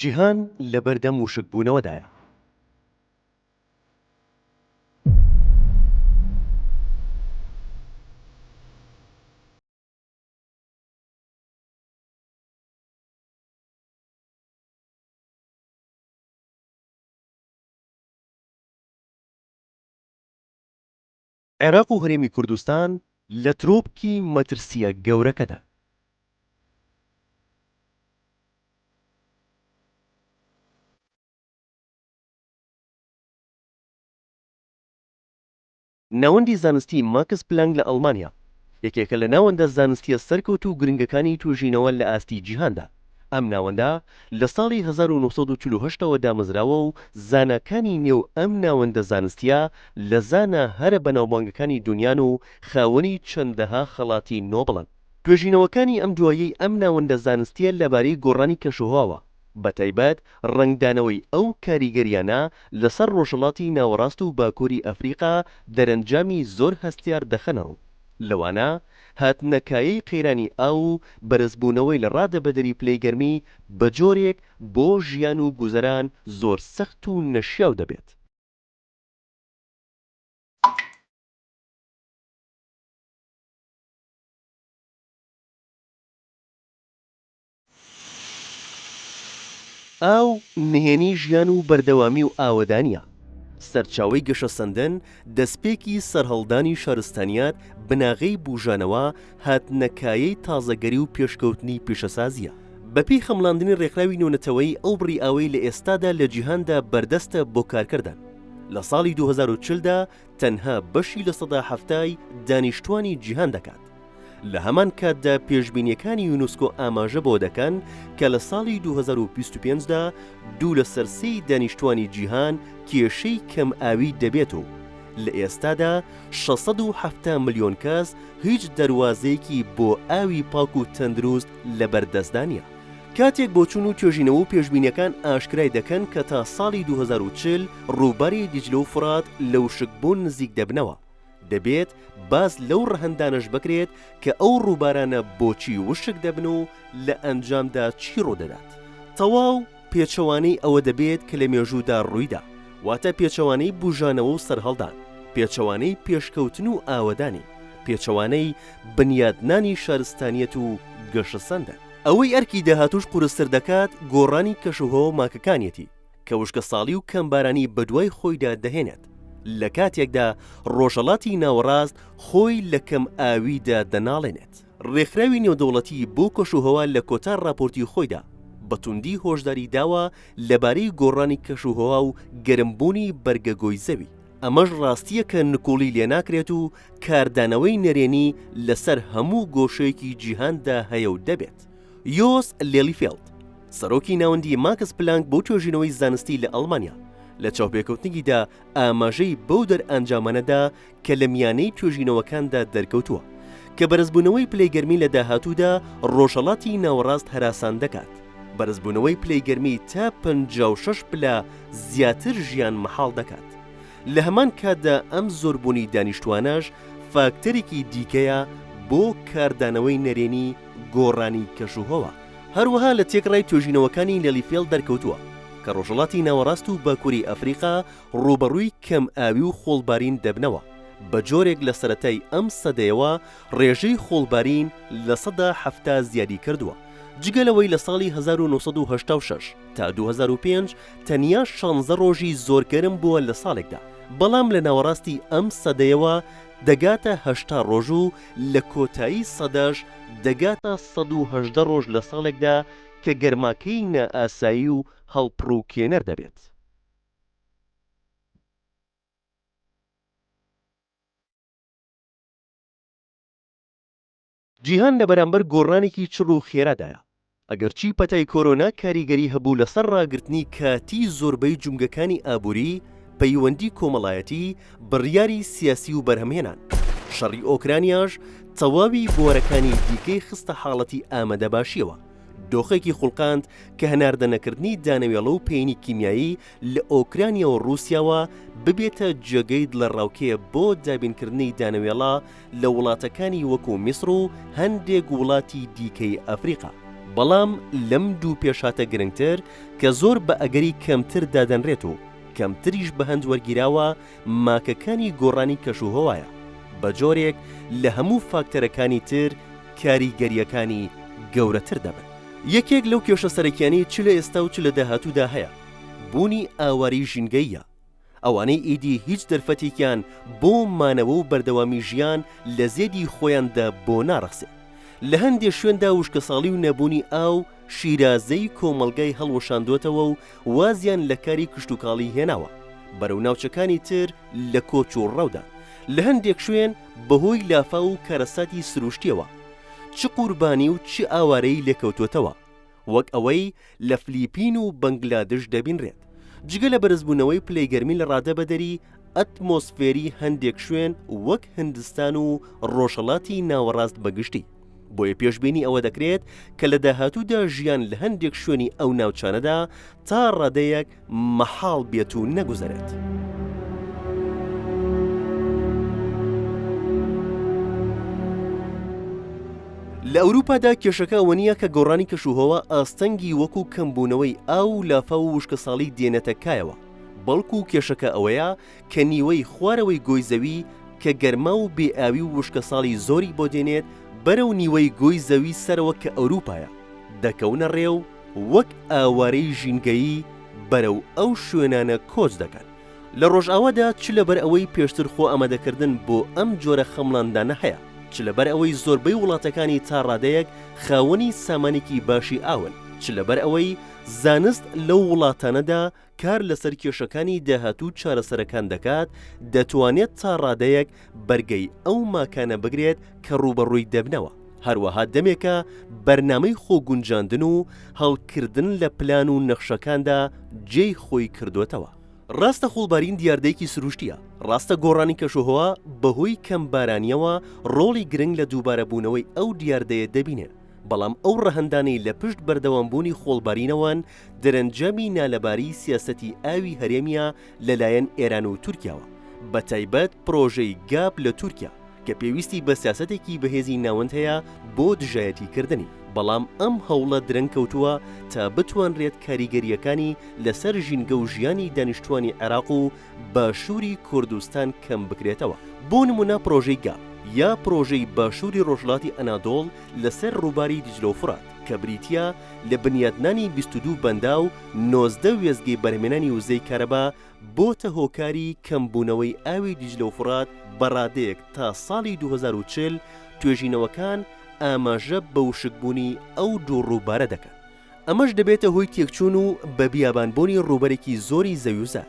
جیهان لە بەردەم وشک بوونەوەدایە. عێراق و هەرێمی کوردستان لە ترۆپکی مەترسییە گەورەکەدان. ناوەندی زانستی ماکس پلانک لە ئەڵمانیا، یەکێکە لە ناوەندە زانستییە سەرکەوتوو و گرنگەکانی توێژینەوە لە ئاستی جیهاندا. ئەم ناوەندە لە ساڵی هەزار و نۆ سەد و چل و هەشت ەوە دامەزراوە و زاناکانی نێو ئەم ناوەندە زانستییە لە زانا هەرە بەناوبانگەکانی دونیان و خاوەنی چەندەها خەڵاتی نۆبڵن. توێژینەوەکانی ئەم دواییەی ئەم ناوەندە زانستییە لەبارەی گۆڕانی کەشوهەواوە، بەتایبەت ڕەنگدانەوەی ئەو کاریگەرییانە لەسەر ڕۆژهەڵاتی ناوەڕاست و باکووری ئەفریقا دەرەنجامی زۆر هەستیار دەخەنەڕوو، لەوانە، هاتنە کایەی قەیرانی ئاو و بەرزبوونەوەی لە ڕادە بەدەری پلەی گەرمی بە جۆرێک بۆ ژیان و گوزەران زۆر سەخت و نەشیاو دەبێت. ئاو نهێنی ژیان و بەردەوامی و ئاوەدانییە، سەرچاوەی گەشەسەندن، دەستپێکی سەرهەڵدانی شارستانییەت، بناغەی بووژانەوە، هاتنەکایەی تازەگەری و پێشکەوتنی پیشەسازییە. بەپێی خەمڵاندنی ڕێکخراوی نێونەتەوەیی ئەو بڕی ئاوەی لە ئێستادا لە جیهاندا بەردەستە بۆ کارکەردان لە ساڵی دوو هەزار و چل دا تەنها بەشی لە سەدا حەفتای دانیشتووانی جیهان دەکات. لە هەمان کاتدا پێشبینیەکانی یونسکۆ ئاماژە بۆ دەکەن کە لە ساڵی 2025 دا دوو لە سەر سێی دانیشتوانی جیهان کێشەی کەم ئاوی دەبێت و لە ئێستادا 670 ملیۆن کەس هیچ دەروازەیەکی بۆ ئاوی پاک و تەندروست لە بەر دەستدا نیە. کاتێک بۆچون و توێژینەوە و پێشبینیەکان ئاشکرای دەکەن کە تا ساڵی 2040 ڕووباری دیجلە و فورات لە وشک بوون نزیک دەبنەوە. دەبێت باس لەو ڕەهەندانەش بکرێت کە ئەو ڕووبارانە بۆچی وشک دەبن و لە ئەنجامدا چی ڕوودەدات تەواو پێچەوانەی ئەوە دەبێت کە لە مێژوودا ڕوویدا واتە پێچەوانەی بوژانەوە و سەرهەڵدان پێچەوانەی پێشکەوتن و ئاوەدانی پێچەوانەی بنیادنانی شارستانیەت و گەشەسەندە ئەوەی ئەرکی داهاتووش قورستر دەکات گۆڕانی کەشوهەوا و ماکەکانیەتی کە وشکەساڵی و کەمبارانی بەدوای خۆیدا دەهێنێت، لە کاتێکدا ڕۆژهەڵاتی ناوەڕاست خۆی لە کەمئاوییدا دەناڵێنێت. ڕێکخراوی نێودەوڵەتی بۆ کەشوهەوا لە کۆتا ڕاپۆرتی خۆیدا بە توندی هۆشداری داوە لەبارەی گۆڕانی کەشوهەوا و گەرمبوونی بەرگەگۆی زەوی، ئەمەش ڕاستییەکە نکوڵی لێناکرێت و کاردانەوەی نەرێنی لەسەر هەموو گۆشەیەکی جیهاندا هەیە و دەبێت. یۆس لێلیفێڵد، سەرۆکی ناوەندی ماکس پلانک بۆ توێژینەوەی زانستی لە ئەڵمانیا، لە چاوپێکەوتنێکیدا ئاماژەی بەو دەرئەنجامانە دا کە لە میانەی توێژینەوەکاندا دەرکەوتووە کە بەرزبوونەوەی پلەی گەرمی لە داهاتوودا ڕۆژهەڵاتی ناوەڕاست هەراسان دەکات، بەرزبوونەوەی پلەی گەرمی تا پەنجا و شەش پلە زیاتر ژیان مەحاڵ دەکات. لە هەمان کاتدا ئەم زۆربوونی دانیشتووانەش فاکتەرێکی دیکەیە بۆ کاردانەوەی نەرێنی گۆڕانی کەشوهەوا هەروەها لە تێکڕای توێژینەوەکانی لێڵیفێڵ دەرکەوتووە کە ڕۆژهەڵاتی ناوەڕاست و باکووری ئەفریقا ڕووبەڕووی کەمئاوی و خۆڵبارین دەبنەوە، بە جۆرێک لە سەرەتای ئەم سەدەیەوە ڕێژەی خۆڵبارین لە سەدا حەفتا زیادی کردووە، جگە لەوەی لە ساڵی هەزار و نۆ سەد و هەشتا و شەش تا دوو هەزار و پێنج تەنیا شانزە ڕۆژی زۆر گەرم بووە لە ساڵێکدا، بەڵام لە ناوەڕاستی ئەم سەدەیەوە دەگاتە هەشتا ڕۆژ و لە کۆتایی سەدەش دەگا تا سەد و هەژدە ڕۆژ لە ساڵێکدا کە گەرماکەیی نائاسایی و هەڵپڕووکێنەر دەبێت. جیهان لە بەرامبەر گۆڕانێکی چڕ و خێرادایە، ئەگەرچی پەتای کۆرۆنا کاریگەری هەبوو لەسەر ڕاگرتنی کاتی زۆربەی جومگەکانی ئابووری، پەیوەندی کۆمەڵایەتی، بڕیاری سیاسی و بەرهەمهێنان. شەڕی ئۆکرانیاش تەواوی بوارەکانی دیکەی خستە حاڵەتی ئامادەباشییەوە، دۆخێکی خوڵقاند کە هەناردە نەکردنی دانەوێڵە و پەینی کیمیایی لە ئۆکرانیا و ڕووسیاوە ببێتە جێگەی دڵەڕاوکێ بۆ دابینکردنی دانەوێڵە لە وڵاتەکانی وەکو میسر و هەندێک وڵاتی دیکەی ئەفریقا. بەڵام لەم دوو پێشهاتە گرنگتر کە زۆر بە ئەگەری کەمتر دادەنرێت و کەمتریش بە هەند وەرگیراوە ماکەکانی گۆڕانی کەشوهەوایە بە جۆرێک لە هەموو فاکتەرەکانی تر کاریگەرییەکانی گەورەتر دەبن. یەکێک لەو کێشە سەرەکیانەی چ لە ئێستا و چ لە داهاتوودا هەیە بوونی ئاوارەی ژینگەییە. ئەوانەی ئیدی هیچ دەرفەتێکیان بۆ مانەوە و بەردەوامی ژیان لە زێدی خۆیاندا بۆ ناڕەخسێ. لە هەندێ شوێندا وشکەساڵی و نەبوونی ئاو، شیرازەی کۆمەڵگای هەڵوەشاندۆتەوە و وازیان لە کاری کشتوکاڵی هێناوە. بەرەو ناوچەکانی تر لە کۆچ و ڕەودان. لە هەندێک شوێن بە هۆی لافاو و کارەساتی سرووشتییەوە، چ قوربانی و چ ئاوارەیی لێکەوتۆتەوە. وەک ئەوەی لە فلیپین و بەنگلادش دەبینرێت. جگە لە بەرزبوونەوەی پلەی گەرمی لە ڕادە بەدەری ئەتمۆسفێری هەندێک شوێن وەک هندستان و ڕۆژهەڵاتی ناوەڕاست بە گشتی، بۆیە پێشبینی ئەوە دەکرێت کە لە داهاتوودا ژیان لە هەندێک شوێنی ئەو ناوچانەدا تا ڕادەیەک مەحاڵ بێت و نەگوزەرێت. لە ئەوروپادا کێشەکە ئەوە نییە کە گۆڕانی کەشوهەوا ئاستەنگی وەکو کەمبوونەوەی ئاو و لافا و وشکەساڵی دێنێتە کایەوە بەڵکو و کێشەکە ئەوەیە کە نیوەی خوارەوەی گۆی زەوی کە گەرما و بێئاوی و وشکەساڵی زۆری بۆ دێنێت بەرەو نیوەی گۆی زەوی سەرەوە کە ئەوروپایە دەکەونە ڕێ و وەک ئاوارەی ژینگەیی بەرەو ئەو شوێنانە کۆچ دەکەن. لە ڕۆژئاوادا چ لەبەر ئەوەی پێشتر خۆ ئامادەکردن بۆ ئەم جۆرە خەمڵاندانە هەیە، چ لەبەر ئەوەی زۆربەی وڵاتەکانی تا ڕادەیەک خاوەنی سامانێکی باشی ئاون، چ لەبەر ئەوەی زانست لەو وڵاتانەدا کار لەسەر کێشەکانی داهات و چارەسەرەکان دەکات، دەتوانێت تا ڕادەیەک بەرگەی ئەو ماکانە بگرێت کە ڕووبەڕووی دەبنەوە، هەروەها دەمێکە بەرنامەی خۆگونجاندن و هەڵکردن لە پلان و نەخشەکاندا جێی خۆی کردۆتەوە. ڕاستە خۆڵبارین دیاردەیەکی سروشتییە، ڕاستە گۆڕانی کەشوهەوا بەهۆی کەم بارانییەوە ڕۆڵی گرنگ لە دووبارەبوونەوەی ئەو دیاردەیە دەبینێت، بەڵام ئەو ڕەهەندانەی لە پشت بەردەوامبوونی خۆڵبارینەوەن، دەرەنجامی نالەباری سیاسەتی ئاوی هەرێمیە لەلایەن ئێران و تورکیاوە، بەتایبەت پرۆژەی گاپ لە تورکیا کە پێویستی بە سیاسەتێکی بەهێزی ناوەند هەیە بۆ دژایەتی کردنی، بەڵام ئەم هەوڵە درەنگ کەوتووە تا بتوانرێت کاریگەرییەکانی لەسەر ژینگە و ژیانی دانیشتووانی عێراق و باشووری کوردستان کەم بکرێتەوە. بۆ نموونە پرۆژەی گاپ یا پرۆژەی باشووری ڕۆژهەڵاتی ئەنادۆڵ لەسەر ڕووباری دیجلە و فرات، کە بریتییە لە بنیاتنانی بیست و دوو بەنداو و نۆزدە وێستگەی بەرهەمێنانی وزەی کارەبا، بۆتە هۆکاری کەمبوونەوەی ئاوی دیجلە و فوڕات بە ڕادەیەک تا ساڵی دوو هەزار و چل، توێژینەوەکان ئاماژە بە وشکبوونی ئەو دوو ڕووبارە دەکەن، ئەمەش دەبێتە هۆی تێکچوون و بە بیابانبوونی ڕووبەرێکی زۆری زەویوزار،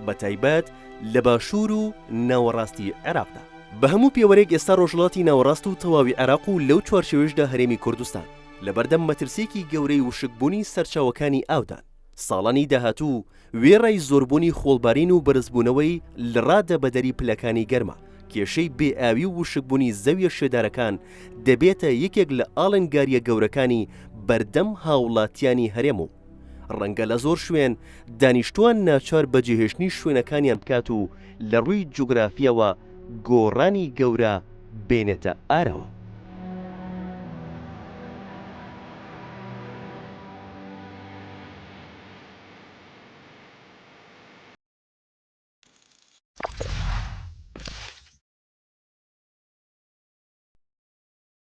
بەتایبەت لە باشوور و ناوەڕاستی عێراقدا. بە هەموو پێوەرێک ئێستا ڕۆژهەڵاتی ناوەڕاست و تەواوی عێراق و لەو چوارچێوەیشدا هەرێمی کوردستان لەبەردەم مەترسییەکی گەورەی وشکبوونی سەرچاوەکانی ئاودان. ساڵانی داهاتوو وێڕای زۆربوونی خۆڵبارین و بەرزبوونەوەی لڕا دەبەدەری پلەکانی گەرما، کێشەی بێ ئاوی و وشکبوونی زەویە شێدارەکان دەبێتە یەکێک لە ئاڵنگارییە گەورەکانی بەردەم هاوڵاتیانی هەرێم و ڕەنگە لە زۆر شوێن دانیشتوان ناچار بە جێهێشتنی شوێنەکانیان بکات و لە ڕووی جوگرافییەوە گۆڕانی گەورە بێنێتە ئارەوە.